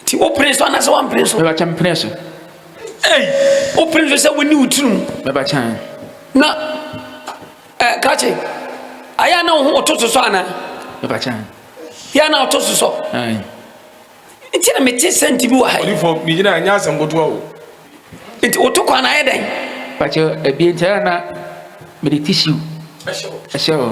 nti wopene so anaasɛ wampene so mɛbakyɛ mpene so ei wopene so sɛ woni wo tirim mɛbakyɛ na eh, kakye ayɛ na wo ho ɔto so so anaa mɛbakyɛ yɛ na ɔto so so nti na mete sɛ nti bi wɔ ha ɔdifo megyina ɛnyɛ asɛm kotoa o nti woto kwan na ayɛ dɛn bakyɛ ɛbie nti ayɛ na mede tissue ɛhyɛ hɔ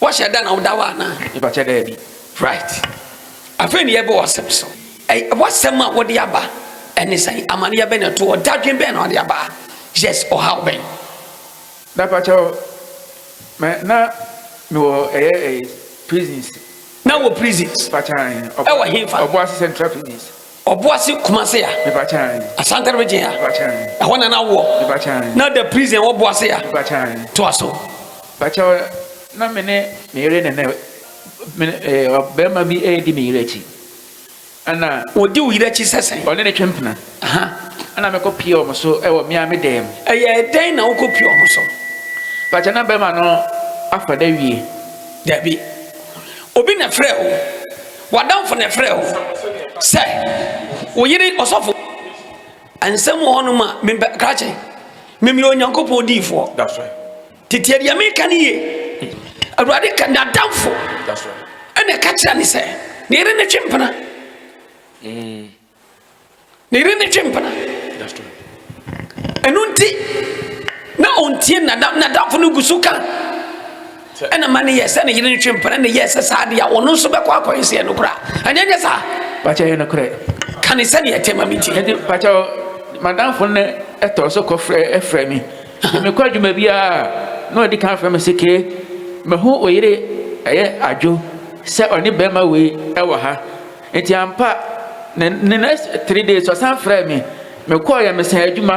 Wɔhyɛ da na woda hɔ anaa? Mepakyɛ daabi. Right. Afei ne yɛbɛ w'asɛm so. Ɛy w'asɛm a wode aba ɛne sɛn? Amaneɛ bɛn na ɛto hɔ? Dadwen bɛn na wode aba? Yes, ɔhaw bɛn? Mepakyɛ wo, mɛ na mewɔ ɛyɛ ɛy prisons. Na wɔ prisons? Mepakyɛ ahe. Ɛwɔ he fa? Ɔboase Central Prisons. Ɔboase Kumase a. Asankare region a. Ɛhɔ na na woɔ. Na da prison wɔ Boase a. To aso. Pakyɛw na me ne me yere ne ne me eh, ɔbarima bi redi me yere akyi. Ɛna. Odi wo yere akyi sɛ sɛn? Ɔne ne twe mpena. Ɛna mekɔ pie wɔn so ɛwɔ mmea me dan mu. Ɛyɛ dɛn na wokɔ pie wɔn so? Pakyɛw na barima no afa da wie. Dabi. Obi na frɛ wo. W'adamfo na ɛfrɛɛ wo sɛ wo yere ɔsɔfo. Nsɛm wɔ hɔnom a mempɛ krakye. Memeyɛ Onyankopɔn diifoɔ. Tete deɛ meka no yie. Awurade ka n'adamfo ɛna ɛka kyerɛ ne sɛ ne yere ne twe mpena. Mm. Ne yere ne twe mpena. Ɛno nti na ɔntie nadamfo no gu so ka ɛna ma ne yɛ sɛ ne yere ne twe mpena na yɛ sɛ saa deɛ ɔno nso bɛkɔ akɔyɛ sɛ ɛno koraa ɛnyɛ nyɛ saa. Pakyɛ yɛ no korɛ. Ka ne sɛdeɛ ɛte ma me ntie. Ɛnti pakyɛ madamfo no ɛtɔ so kɔfrɛ ɛfrɛ mi. Mekɔ adwuma biara na ɔdi kan frɛ me sɛ kee mahu oyere ɛyɛ adwo sɛ ɔne bɛrima wei ɛwɔ ha. Nti ampa ne ne next three days ɔsan frɛɛ me mekɔɔeɛ mesan adwuma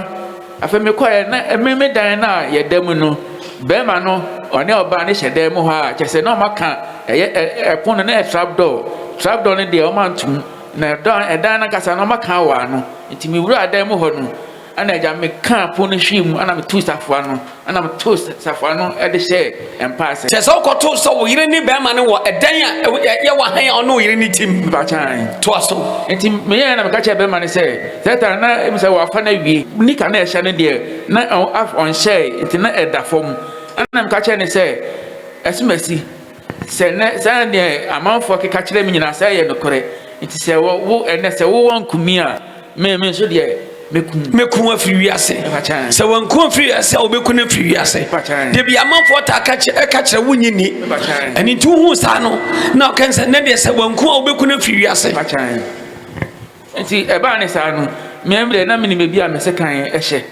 afei mekɔɔeɛ na ɛme me dan no a yɛda mu no bɛrima no ɔne ɔbaa no hyɛ dan mu hɔ a kyɛ sɛ na ɔma ka ɛyɛ ɛpon no na yɛ trap door trap door no deɛ ɔma ntom na ɛdan ɛdan no ankasa no ɔma ka wɔ ano nti mewura dan mu hɔ no Ɛnna agya mekaa pon no hwee mu, ɛnna metoo safoa no, ɛnna metoo safoa no de hyɛɛ mpaase. Kyerɛ sɛ wokɔtoo sɛ wo yere ne bɛrima no wɔ ɛdan a ɛyɛ wɔ hann a ɔne wo yere no te mu. Mpakyɛn. Toa so. Enti meyɛɛ na meka kyerɛɛ bɛrima no sɛ, Sɛɛtaa na ɛmu sɛ wɔafa no awie. Nika na ɛhyɛ no deɛ, na ɔnhyɛe, enti na ɛda fam. Ɛnna meka kyerɛɛ no sɛ, Asumasi, sɛ nnɛ saa nea amanfoɔ keka kyerɛ me nyinaa sɛ ɛyɛ nokorɛ, enti sɛ wo ɛnnɛ sɛ wowɔ nkumi a, Me me nso deɛ mɛku. Mɛku no afiri wiase. Sɛ wanku afiri wiase a wɔbɛku no afiri wiase. Debi amanfoɔ taa ka kyerɛ ɛka kyerɛ wo nyi ni. Ɛne nti wohu saa no na ɔka sɛ ne deɛ sɛ wanku a wɔbɛku no afiri wiase. Nti ɛbaa ne saa no mmea deɛ na menim ebi a mese kan ɛhyɛ.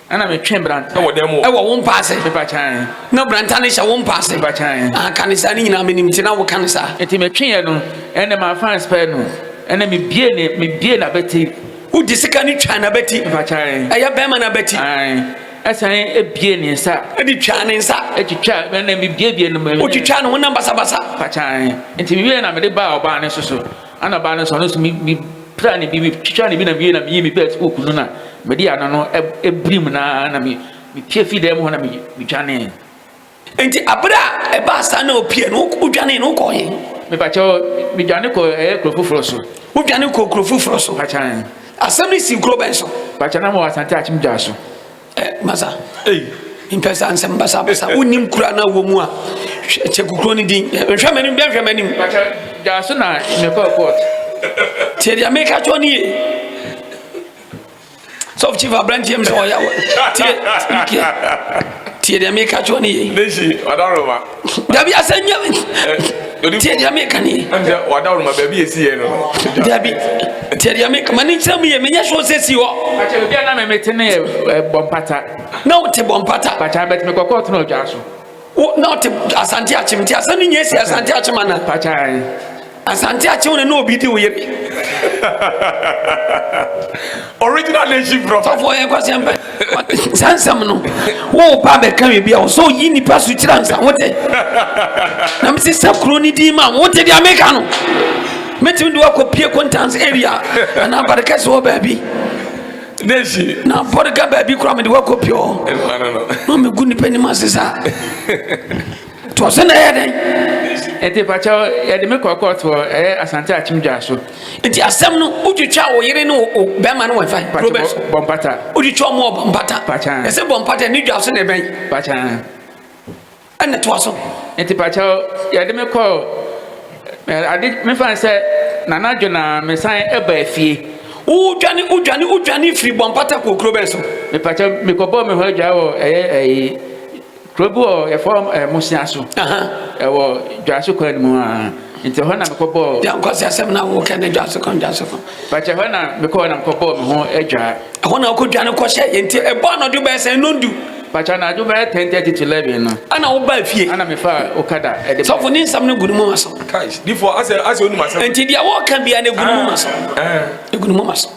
Ɛna metwe branta wɔ dan mu. Ɛwɔ wo mpa ase. Mepa kyan. Na branta no hyɛ wo mpa ase. Mepa kyan. Aka ne saa ne nyinaa menim ti na wo ka ne saa. Eti metwe yɛ no. Ɛna ma fans pɛ no. Ɛna me bie ne me bie na bɛti. Wo di sika ne twa na bɛti. Mepa kyan. Ɛyɛ bɛrima na bɛti. Ayi. Ɛsan ebie ne nsa. Ɛdi twa ne nsa. Etwitwa ɛna me bie bie no. Otwitwa no ho nam basa basa. Mepa kyan. Eti me wie na me de ba ɔbaa ne soso. Ana baa no so, ɔno nso me me pira ne bi me twitwa ne bi na mewie na meyii me bɛs hook no na mede ano no ɛbirim na na me mepie fii dan mu hɔ na me medwanee. Nti abere a ɛbaa saa na opie no wodwanee no wokɔɔ he? Mepakyɛw medwane kɔ ɛyɛ kuro foforɔ so. Wodwane kɔɔ kuro foforɔ so? Pakyɛw. Asɛm no sii kuro bɛn so? Pakyɛw na mewɔ Asante Akyem Dwa so. Ɛ masa ei mpɛ saa nsɛm basabasa wonim kura no a wɔ mu a hwɛ kyɛ kukuro no din nhwɛ m'anim bɛ nhwɛ m'anim gyaa so na mekɔɔ court tiɛ deɛ meka kyɛw ne ye sɔf chief aberanteɛ m sɛ ɔyɛ tiɛ tiɛ deɛ meka kyɛw ne ye dabi asɛ nya tiɛ deɛ meka ne dabi tiɛ deɛ meka ma ne nkyerɛ mu yɛ menyɛ soɔ sɛ si hɔ na wote bɔ mpata na wote asante akyem nti asɛm no nyɛ si asante akyem ana Asante akye wo ne na obi di wo yɛ bi. Original nation from. Sɔfo yɛ kwasɛm pɛ. Saa nsɛm no wo ba bɛka wi bi a ɔsɛ oyi nipa so kyerɛ ansa wo tɛ. Na mesi sɛ kuro ne din ma wo te deɛ meka no. Mɛtumi de wakɔ pie kontans area anaa badekɛse wɔ baabi. Nation. Na bɔdeka baabi kora mede wakɔ pie hɔ. Ɛmpa no no. Na megu nipa nim ase saa. to ɔsɛ na ɛyɛ dɛn ɛti pakyɛ yɛde me kɔ court wɔ ɛyɛ asante akyem dwa so nti asɛm no wotwitwa wo yere ne wo bɛrima no wɔmfa probes bɔmpata wotwitwa ɔmo wɔ bɔmpata ɛsɛ bɔmpata ne dwa so na ɛbɛn ɛna toa so nti pakyɛ yɛde me kɔ ade mefa sɛ nanadwo na mesan ɛba afie wodwane wodwane wodwane firi bɔmpata kɔ okuro bɛn so mepakyɛ mekɔbɔɔ me hɔ adwa wɔ ɛyɛ ɛyi Kuro bi wɔ yɛfɔ Mosia so, ɛwɔ Dwaso kwan mu a, nti ɛhɔ na mekɔ bɔɔ. Yɛn kɔ sɛ asɛm na wo kɛ ne Dwaso kwan Dwaso kwan. Pàtɛ ɛhɔ na mekɔ na mekɔ bɔɔ me ho adwa. Ɛhɔ na ɔkɔ dwa no kɔ hyɛ yɛn ti ɛbɔ anadwo bɛyɛ sɛ nondu. Pàtɛ anadwo bɛyɛ ten thirty to eleven no. Ɛna wo baa fie. Ɛna me fa okada ɛde bɛɛ. Sɔfo ne nsɛm no gu ne mu ma so. Kai difo asɛ asɛ onim asɛm. Nti deɛ wɔka bia no gu ne mu ma so. Ɛɛ. Egu ne mu ma so.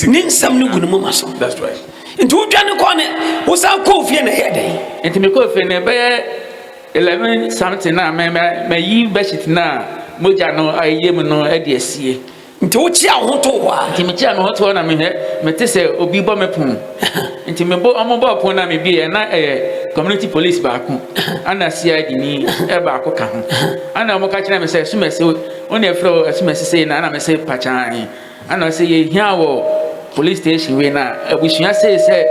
Ne nsɛm no gu ne moma so. Nti wodwane kɔɔ ne wosan kɔɔ fie na ɛyɛ dɛn? Nti mekɔɔ fie no ɛbɛyɛ eleven something na mayi bedsheet no a mogya no ayɛ mu no de asie. Nti wokyea wo ho too hɔ a? Nti mekyea me ho too hɔ na mehwɛ mete sɛ obi bɔ me pon. Nti mebɔ ɔmo bɔɔ pon na mebieɛ na ɛyɛ community police baako ɛna CID ni baako ka ho. Ɛna ɔmo ka kyerɛɛ me sɛ Sumasi Wo na efrɛ wo ɛsoma sisei na ɛna me se pakyaaee ɛna ɔse yɛhia wɔ police station wei na abusua sei sɛ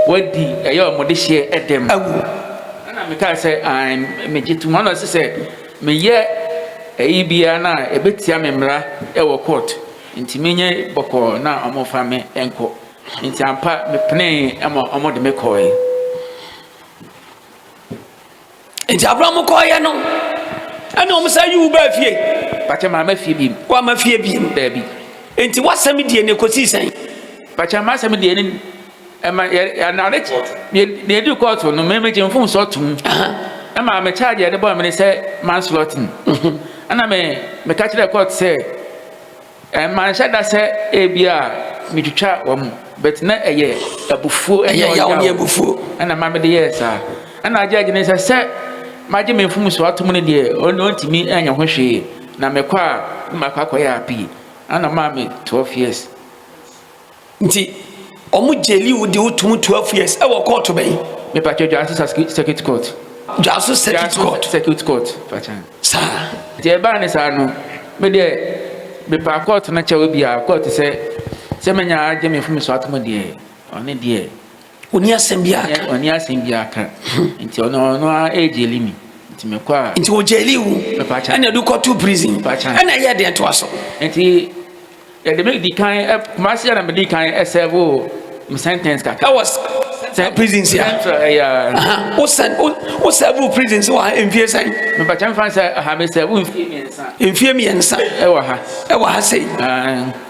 wadi ɛyɛ ɔmo dehyeɛ ɛdɛm awu ɛna me kaa sɛ ae me gye tom ɛna ɔse sɛ me yɛ ɛyi biara na ɛbɛtia me mmra ɛwɔ court nti me nyɛ bɔkɔɔ na ɔmo fa me ɛnkɔ nti ampa me penee ɛma ɔmo de me kɔɔe. nti abere a wɔkɔɔyɛ no ɛna wɔn san yi wo baa fie. pàtẹ maa ma fie biem. wa ma fie biem. daabi. nti wasɛm die ne kɔsi sɛn. pàtẹ maa sɛm die ne ɛma yɛ yɛ anade deɛ edi kɔɔto no mɛmɛ gye nfun sɔ tum ɛma mɛ kyaagye ɛde bɔ ɛmɛ ne sɛ manslɔtin ɛna mɛ mɛ kakyerɛ kɔɔto sɛ. Manhyɛ da sɛ ebia metwitwa wɔn, but na ɛyɛ abufuo ne Ɛyɛ yaw ne ɔyaw abufuo. ɛna ɛma mede yɛɛ saa. Ɛna agye agye ne sɛ sɛ magye me mfomsoɔ atom no deɛ, ɔn- ɔntumi nyɛ ho hwee. Na mekɔ a, na makɔ akɔyɛ apii. Ɛna ɔmaa me 12 years. Nti ɔmo gyeli wo de wo tum twelve years ɛwɔ kɔɔto bɛyi. Me pa kyɛw dwaso circuit court. Dwaso circuit court. Dwaso circuit court pa kyɛw. Saa. Nti ɛbaa ne saa no me deɛ me pa court no kyɛw ebia court sɛ sɛ me nya agye me fome so atom deɛ ɔne deɛ. Oni asɛm bi aka. Oni asɛm bi aka. Nti ɔno ɔno a ɛgyeli mi. Nti me kɔ a. Nti o gyeli wo. Me pa kyɛw. Ɛna ɛdu kɔto prison. Pa kyɛw. Ɛna ɛyɛ deɛ to aso. Nti. Yɛde me di kan ɛ Kumasi yɛ na me di kan ɛ sɛbo me sentence kaka. Ɛwɔ sɛ prison si a. Central ɛyɛ. O sɛ o o sɛbo prison si wɔ ha mfie sɛn. Mepatwa nfa sɛ ha me sɛbo mfie mmiɛnsa. Mfie mmiɛnsa. Ɛwɔ ha. Ɛwɔ ha sɛ.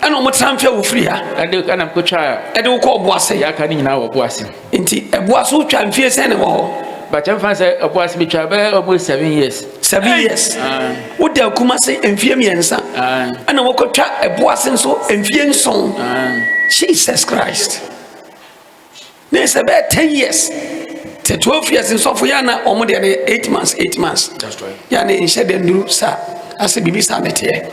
Ɛna wɔn tra mfie a wɔfiri ha. Ɛde ɛna kotwa. Ɛde wokɔ ɔbo ase. Yɛ aka ne nyinaa wɔ ɔbo ase. Nti ɛboa so twa mfie sɛn na ɛwɔ hɔ? Bàtà nfa sɛ ɛboa so metwa bɛyɛ almost seven years. Seven years. Woda Kumasi mfie mmiɛnsa. Ɛna wokɔtwa ɛboa so nso mfie nson. Jesus Christ. Ne sɛ bɛyɛ ten years. Sɛ twelve years nsɔfo yɛ ana wɔn deɛ no yɛ eight months eight months. Yɛ ana nhyɛ dɛ nduru saa. Asɛ biribi saa na ɛteɛ.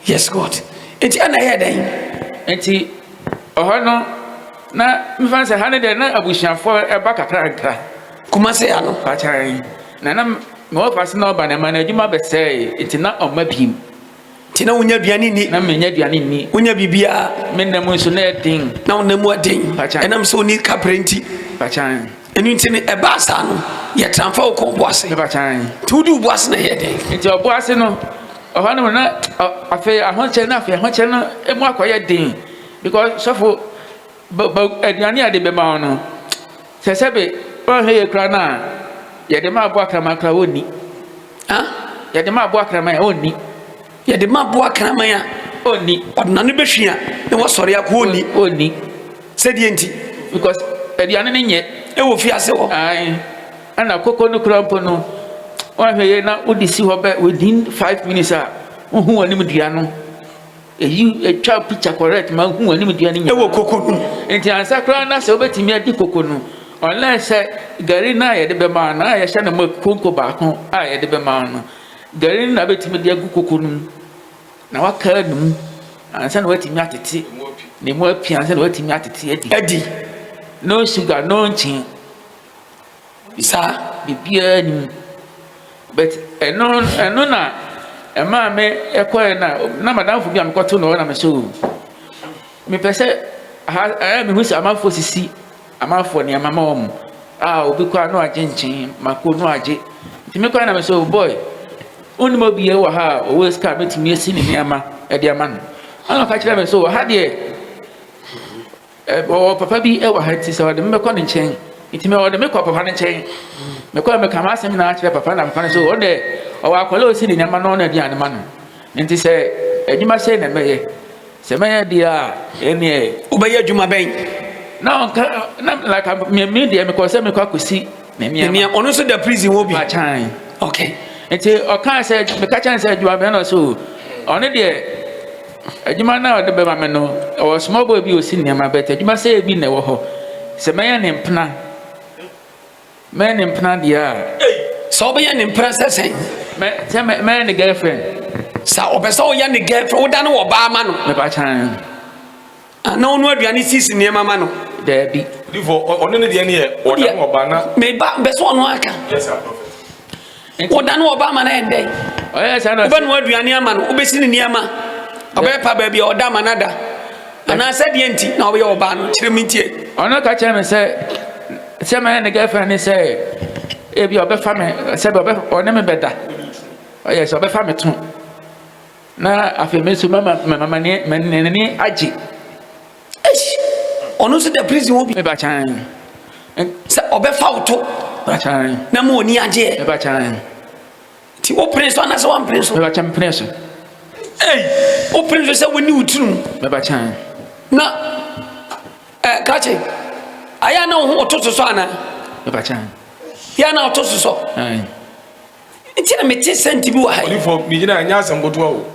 Yes God. Enti ɛna ɛyɛ dɛn? nti ɔhɔ no na mefa sɛ ha no deɛ na abusuafoɔ ɛba kakra kakra kumase ano pakyan na na mewɔ fa se na ɔba na ɛma no adwuma bɛsɛe nti na ɔma bim nti na wonya aduane nni na menya aduane nni wonya biribiaa me nna mu nso na ɛden na wona mu aden ɛnam sɛ woni kaprɛ nti pakyan ɛno nti no ɛbaa saa no yɛtramfa wo kɔ ɔboase pakyan nti wode woboase na ɛyɛ dɛn nti ɔboase no Ɔhɔnom na afei ahokyere na afei ahokyere no emu akɔyɛ den because sɔfo bɛ aduane a yɛde bɛma wɔn no sɛ sɛbe ɔnhwɛ yɛ kura no a yɛde ma aboa kraman kura wɔnni yɛde ma aboa kraman a ɔnni yɛde ma aboa kraman a ɔnni ɔdenane bɛhwi a na wasɔre akɔ ɔnni ɔnni sɛdeɛ nti because aduane no nyɛ ɛwɔ fiase hɔ Ɛna koko no koraa mpo no, woanhwɛ yie na wode si hɔ bɛ within five minutes a, wohu w'anim dua no. Eyi etwa picture correct ma wohu w'anim dua no nyinaa. Ɛwɔ koko no mu. Nti ansa koraa na sɛ wobɛtumi adi koko no, unless sɛ gari no a yɛde bɛma no a yɛhyɛ no ma konko baako a yɛde bɛma no, gari no na wobɛtumi de agu koko no mu na waka no mu ansa na woatumi atete na emu apia ansa na woatumi atete adi. Adi. No sugar, no nkyen. Bisa biribiara nni mu. But ɛno ɛno na ɛmaa me ɛkɔɛ na na madamfo bi a mekɔto no hɔ na me sɛ o mepɛ sɛ ha ɛyɛ mehu sɛ amanfoɔ sisi amanfoɔ nneɛma ma wɔn a obi kɔ a na wagye nkyen mako na wagye nti mekɔ na me sɛ o boy wonim obi yɛ wɔ ha a ɔwɔ sika a mɛtumi asi ne nneɛma ɛde ama no ɛna ɔka kyerɛ me sɛ wɔ ha deɛ Ɔwɔ papa bi wɔ ha nti sɛ ɔde me bɛkɔ ne nkyɛn nti mɛ ɔde me kɔ papa no nkyɛn mekɔ mɛ kama asɛm nyinaa kyerɛ papa na papa no so ɔdɛ ɔwɔ akɔla osi ne nyama no na aduane ma no nti sɛ adwuma sɛ na mɛyɛ sɛ mɛyɛ deɛ a ɛneɛ wobɛyɛ adwuma bɛn na ɔnka na laka mmemme deɛ mekɔ sɛ mekɔ akɔsi ne nneɛma ɔno nso da prison hɔ bi akyan okay nti ɔkaa sɛ meka kyɛn sɛ adwuma bɛn na ɔsɛ o ɔno deɛ Adwuma no a ɔde bɛma me no, ɔwɔ small boy bi a ɔsi nneɛma, but adwuma sɛeɛ bi na ɛwɔ hɔ. Sɛ mɛyɛ ne mpena, mɛyɛ ne mpena deɛ a. Ei, sɛ wobɛyɛ ne mpena sɛ sɛn? Mɛ, sɛ mɛ, mɛyɛ ne girlfriend. Sɛ ɔpɛ sɛ woyɛ ne girlfriend, woda ne wɔ baa ma no. Mepakyan. Ana ɔno aduane sisi nneɛma ma no? Daabi. Difo ɔno ne deɛ ne yɛ ɔda no ɔba na. Meba bɛsɛ ɔno aka. Yes sir prophet. Ɔda no ɔba ama no ɛndɛ. Ɔyɛ saa na. Wobɛnoa aduane ama no wobɛsi ne nneɛma ɔbɛpa baabi a ɔda ama no ada anaasɛ deɛ nti na ɔbɛyɛ ɔbaa no kyerɛ me ntie. Ɔno ka kyerɛ me sɛ sɛ mɛyɛ ne girlfriend ne sɛ ebi ɔbɛfa me sɛ ɔne me bɛda ɔyɛ sɛ ɔbɛfa me to. Na afei me nso mama mama ne n'ani agye. Eish! Ɔno nso dɛ prison wɔ bi. Meba kyan. Sɛ ɔbɛfa wo to. Meba kyan. Na ma ɔni agyeɛ. Meba kyan. Ti wo pene so anasɛ wampene so. Meba kyan pene so. Ei! Wo pene so sɛ woni wo tirim. Meba kyan. Na eh, kakye ayɛ na wo ho ɔto so so ana. Meba kyan. Yɛ na ɔto so so. Ayi. Nti na mete sɛ nti bi wɔ ha yi. Ɔdifo mi gyina ɛnyɛ asɛm kotoa o.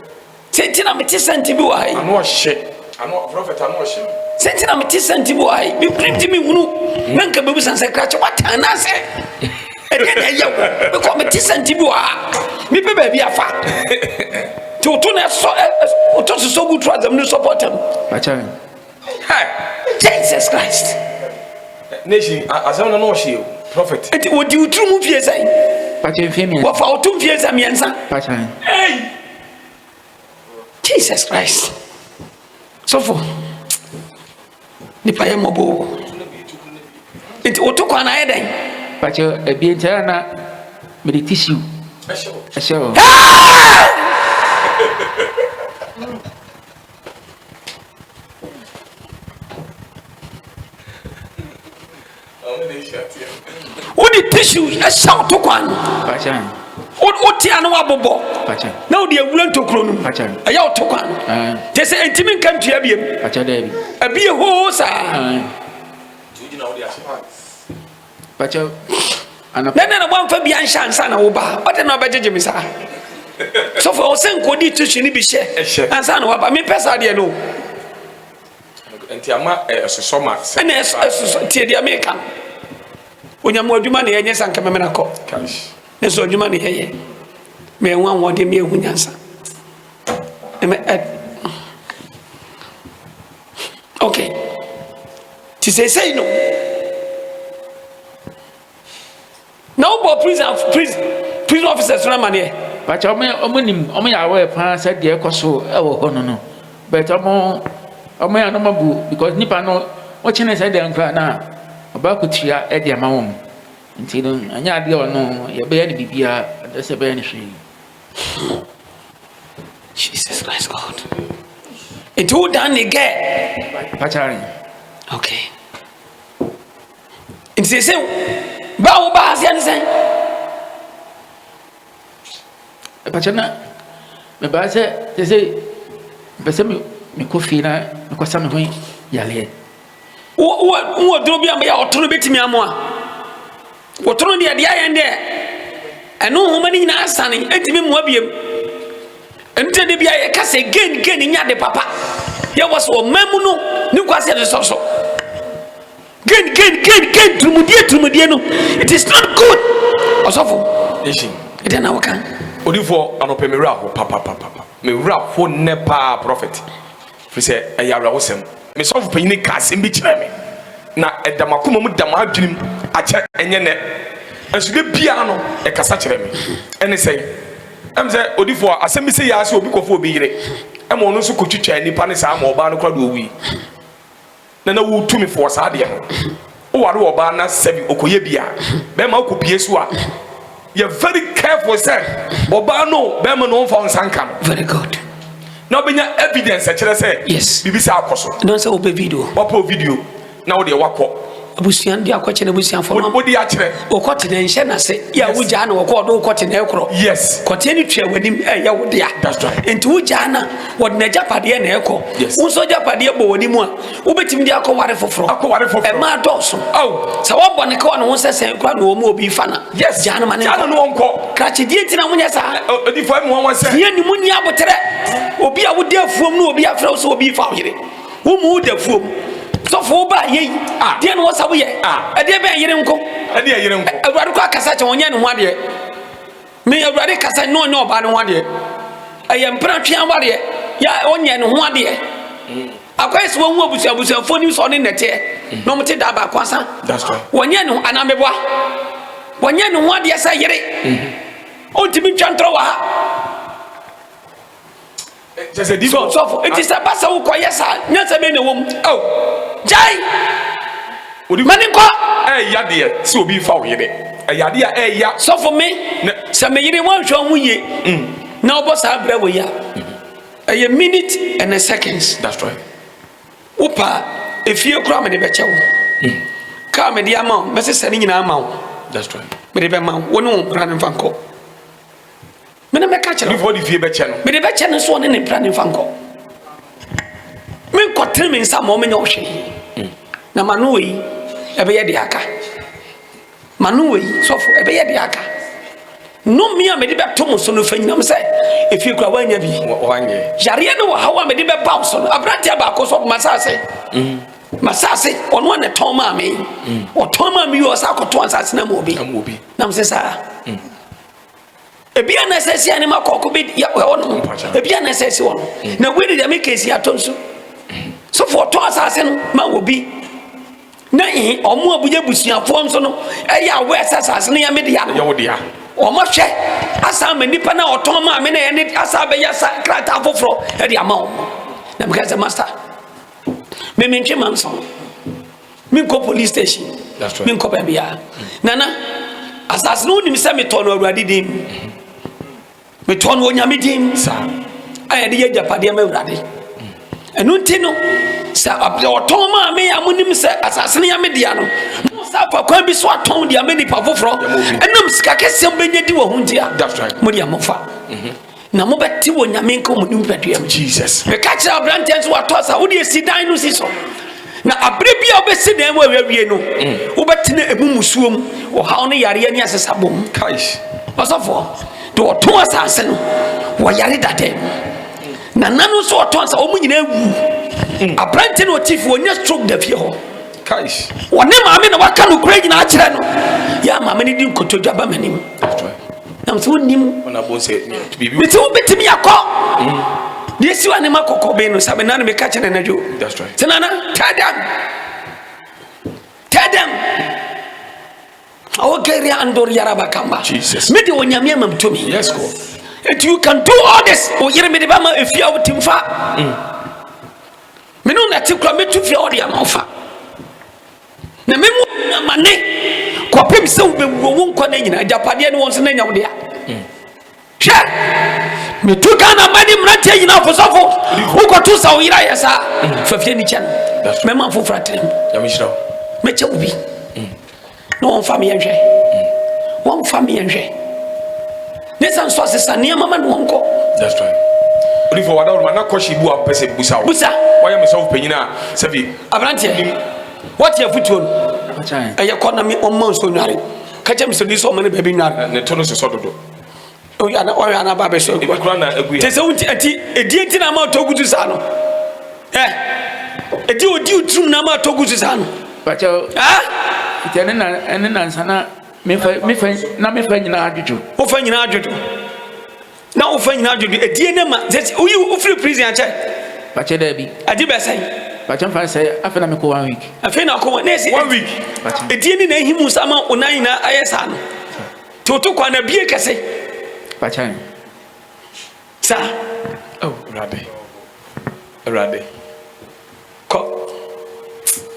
Sɛ nti na mete sɛ nti bi wɔ ha yi. Ano ɔhyɛ ano prɔfɛt ano ɔhyɛ mi. Sɛ nti na mete sɛ nti bi wɔ ha yi. Mi pirim ti mi hunu na nka bebu san sɛ krakye wata anaasɛ ɛdɛ na ɛyɛ wo bɛkɔ mete sɛ nti bi wɔ ha mi pɛ baabi afa ti woto na ɛsɔ ɛsɔ woto sosɔ gu turu azam ne sɔpɔtam. Hey! Jesus Christ! Nation, asɛm no na ɔhyɛ o, prophet. Nti wɔdi wo tiri mu mfie sɛn? Pakyɛ mfie mmiɛnsa. Wɔfa wo to mfie sɛ mmiɛnsa? Pakyɛ. Hey! Jesus Christ. Sɔfo, nipa yɛ mmɔbɔ o. Nti woto kwan ayɛ dɛn? Pakyɛ ebien nti na mede tissue ɛhyɛ hɔ. wode tissue ɛhyɛ wo to kwan wote a na woabobɔ na wode awura ntokuro no ɛyɛ wo to kwan te sɛ ɛntimi nka ntua biam ɛbie hoo saa Dɛn na na woamfa bi anhyɛ ansa na woba? Ɔde na ɔbɛgyegye me saa. Sɔfo a ɔsɛ nkodi tissue no bi hyɛ ansa na waba. Mepɛ saa deɛ no. Nti ama ɛsosɔ ma sɛ. Ɛna ɛsosɔ tie deɛ meka no. Onyame adwuma na yɛnyɛ sanka mɛmena kɔ. Nanso adwuma na yɛyɛ. Mɛhu ahoɔden, mɛhu nyansa. Ɛmɛ ɛ. ok nti seesei no na wobɔ prison prison prison officers no amaneɛ bàtà ɔmo ɔmo nim ɔmo yɛ aware paa sɛ deɛ ɛkɔ so ɛwɔ hɔ no no bɛtɛ ɔmo ɔmo yɛ anoma bu because nipa no wɔkyɛnɛ sɛ deɛ nkora na ɔba akutua ɛde ama wɔn nti no ɛnyɛ adeɛ ɔno yɛbɛyɛ no biribiara ɛdɛ sɛ ɛbɛyɛ no hwee. Jesus Christ God. Nti wo dan ne gɛ. Pachari. Okay. Nti sɛ sɛ bá wo bá aseɛ ne sɛn. Pachari na mɛ bá sɛ sɛ sɛ mpɛ sɛ mi mi kɔ fie na mi kɔ sa mi ho yaleɛ. wowɔ duro bi a bɛyɛ ɔtono bɛtumi amoa wɔtono deɛ deɛ ayɛn deɛ ɛno nwoma no nyinaa sane ɛntumi mmoa biam ɛnti de bia yɛka sɛ gain gain nya de papa yɛwɔ sɛ ɔma mu no ne kwa sɛ de sɔ so gain gain gain gain turumudie turumudie no it is not good ɔsɔfo ɛdɛ na woka odifoɔ anɔpɛ mewura ho papapapa mewura ho nnɛ paa prophet Efisɛ ɛyɛ awerɛhosɛm. Me sɔfo panyin kaa asɛm bi kyerɛɛ me, na ɛda m'akoma mu da m'adwenem akyɛ, ɛnyɛ nnɛ nso, da biara no ɛkasa kyerɛ me. Ɛne sɛn? Ɛne sɛ, odiyifo a asɛm bi sɛɛ ara sɛ obi kɔfa obi yere ma ɔno nso kotwitwaa nnipa ne saa ma ɔbaa no koraa de owui. na na ɔwɔ tumi fo wɔ saa adeɛ ho woware ɔbaa na sɛbi ɔkɔyɛ bi a bɛrima ɔkɔ pie so a yɛ very careful sɛ ɔbaa no bɛrima no ɔmfa nsa nka no very good na ɔbɛnya evidence ɛkyerɛ sɛ yes biribi sɛ akɔ so ɛdɔn sɛ wopɛ video wapɔ video na wode wakɔ abusua de akɔkyɛ no abusuafoɔ no wode akyerɛ wokɔ tena nhyɛ no ase yɛ a wogyaa na wɔkɔ ɔde wokɔ tena ɛkorɔ yes kɔteɛ no tua w'anim ɛyɛ wo dea enti wogyaa na wɔde n'agyapadeɛ na ɛkɔ wo nso agyapadeɛ bɔ w'anim a wobɛtumi de akɔware foforɔ akɔware foforɔ ɛma adɔɔso sɛ wɔbɔ ne kawa ne ho sɛ sɛn kora na wɔn mu obi fa na yes gyaa no ma ne nkɔ gyaa no nkɔ krakye die nti na monyɛ saa odifoɔ ɛmu wɔn sɛ deɛ ne mu ni aboterɛ obi a wode afuom no obi afrɛ wo sɛ obi fa wo yere wo mu woda afuom sɔfo wo baa yei deɛ ne wɔ sa woyɛ ɛdeɛ bɛn yere nko ɛdeɛ yere nko awurade kɔ akasa kyɛ wɔnyɛ ne ho adeɛ Me Awurade kasa na ɔnyɛ ɔbaa no ho adeɛ. Ɛyɛ mpenatwe awareɛ yɛ a ɔnyɛ ne ho adeɛ. Mm. Akɔyɛ sɛ wɔhu abusua abusuafoɔ nim sɛ ɔne nnɛteɛ mm. na wɔte daa baako asa. Wɔnyɛ ne ho anameboa. Wɔnyɛ ne ho adeɛ sɛ yere. Mm-hmm. Ɔntumi ntwa ntorɔ wɔ ha. kyɛ sɛ di bɔ sɔfo nti sɛ ba sɛ wokɔ yɛ saa nyansa bɛn na ɛwɔ mu ɛw gyae ma ne nkɔ ɛyɛ adeɛ sɛ obi mfa wo yere ɛyɛ adeɛ a ɛyɛ sɔfo me sɛ me yere wanhwɛ ho yie mm. na wobɔ saa berɛ wɔ yi a ɛyɛ minute and a seconds that's right wo paa efie koraa mede bɛkyɛ wo mm. kaa mede ama wo mɛsesɛ ne nyinaa ama wo that's right mede bɛma wo ne wo mpra no mfa nkɔ me ne mɛka kyerɛ before de fie bɛkyɛ no mede bɛkyɛ no nso ɔne ne mpra ne mfa nkɔ menkɔtene me nsa ma ɔmenyɛ ɔhwe hmm. na ma no wɔ yi ɛbɛyɛ de aka ma no wɔ yi sɔfo ɛbɛyɛ de aka nnome a mede bɛto mo so no fa nyinam sɛ ɛfie kora woanya bi yareɛ ne wɔhaw a mede bɛba wo so no aberanteɛ baako so masase mm. masase ɔno a ne tɔn maa me mm. ɔtɔn maa me yɛ ɔsa akɔto ansase na ma obi nam sɛ saa mm. ebi a na ɛsɛ si anima kɔkɔ bi yɛ wɔ no ebi a na ɛsɛ si wɔn mm. na wei de deɛ meka si atɔ nso sofo ɔtɔ asase no ma wɔ bi na ɛhe ɔmo a bonyɛ busuafoɔ nso no ɛyɛ awɔ ɛsɛ asase no yɛ me dea no ɔmo hwɛ asan ma nipa na ɔtɔn maa me na yɛ ne asan bɛyɛ sa krataa foforɔ ɛde ama wɔn na meka sɛ masta mɛmɛntwe ma nsɔn. Menkɔ police station. That's right. Menkɔ baabi a. Nana, asase no wonim sɛ metɔ no Awurade din mu. Metɔ no Onyame din mu. Saa. A yɛde yɛ agyapadeɛ ma Awurade. Ɛno nti no, sɛ ɔtɔn maa me a monim sɛ asase no yɛ me dea no, mo sa afa kwan bi so atɔn de ama nipa foforɔ. Ɛnam sika kɛseɛ bɛnya di wɔ ho nti a, mo deɛ mofa. na mobɛte wɔ nyame nka mu ne mpadua mu jesus meka kyerɛ aberanteɛ nso watɔ sa wode asi dan no si so na abere bi a wobɛsi dan mu awiawie no mm. wobɛtena ɛmu musuo mu ɔhaw ne yareɛ ne asesa bɔ mu ɔsɔfoɔ de ɔtɔn asase no wɔyare dada mu na nano nso ɔtɔn sa wɔn nyinaa wu mm. aberante na ɔtifi wɔnya stroke da fie hɔ wɔne maame na waka no kura nyinaa kyerɛ no yɛ maame no di nkotodwa ba m'anim na nso nim mete wo bɛtumi akɔ deɛ ɛsi wa ne ma kɔkɔ bɛn no sa mena ne meka kyɛ ne nadwo sɛ nana tell them tell them awokɛri andor yaraba kamba mede onyame amam tumi nti you can do all this woyere mede bɛma ɛfie a wotim fa mm. mene wo nate kora mɛtu fie a wode ama wo fa na me mu amane kɔpem sɛ wobɛwuo wo nkwa no nyina agyapadeɛ ne wɔ nso no anya wo dea hwɛ metu ghana ma ne mmeranteɛ nyina afosɔfo wokɔto sa wo yera yɛ saa fa fie ne kyɛ no mɛma foforɔ atenam mɛkyɛ wo bi na wɔmfa meyɛnhwɛ wɔmfa meyɛnhwɛ Ne sa nso asesa nneɛma ma no nkɔ. That's right. Odifo wada wɔn ma na kɔhye bu a mpɛ sɛ busa o. Busa. Wɔyɛ me sɔfo panyin a sɛbi. Abranteɛ. Nim. Wɔte afutuo no. Akyɛn. Ɛyɛ kɔ na me ɔmma nso nware. Kakyɛ mi sɛ ni sɛ ɔmma ne baabi nware. Ne to no sosɔ dodo. Ɔyɛ ana ɔyɛ ana ba bɛ so. Ebi kura na egu yɛ. Tese wunti eti edie ti na ama ɔtɔ gutu saa no. Ɛ. Edi odi oturum na ama ɔtɔ gutu saa no. Kakyɛ. Ah. Kakyɛ ne na ne nansa na. Me fa me fa na me fa nyinaa dwodwo. Wo fa nyinaa dwodwo. Na wo fa nyinaa dwodwo. Edie ne ma sɛ woyi wo firi prison akyɛ. Bakyɛ dɛ bi. Adi bɛ sɛn. Bakyɛ nfa sɛ afei na mekɔ one week. Afei na ɔkɔ na esi one week. Edie ne na ehi mu sa ma wo nan nyinaa ayɛ saa no. Te woto kwan na bie kɛse. Bakyɛ. Sa. Oh, Awurade. Awurade. Kɔ.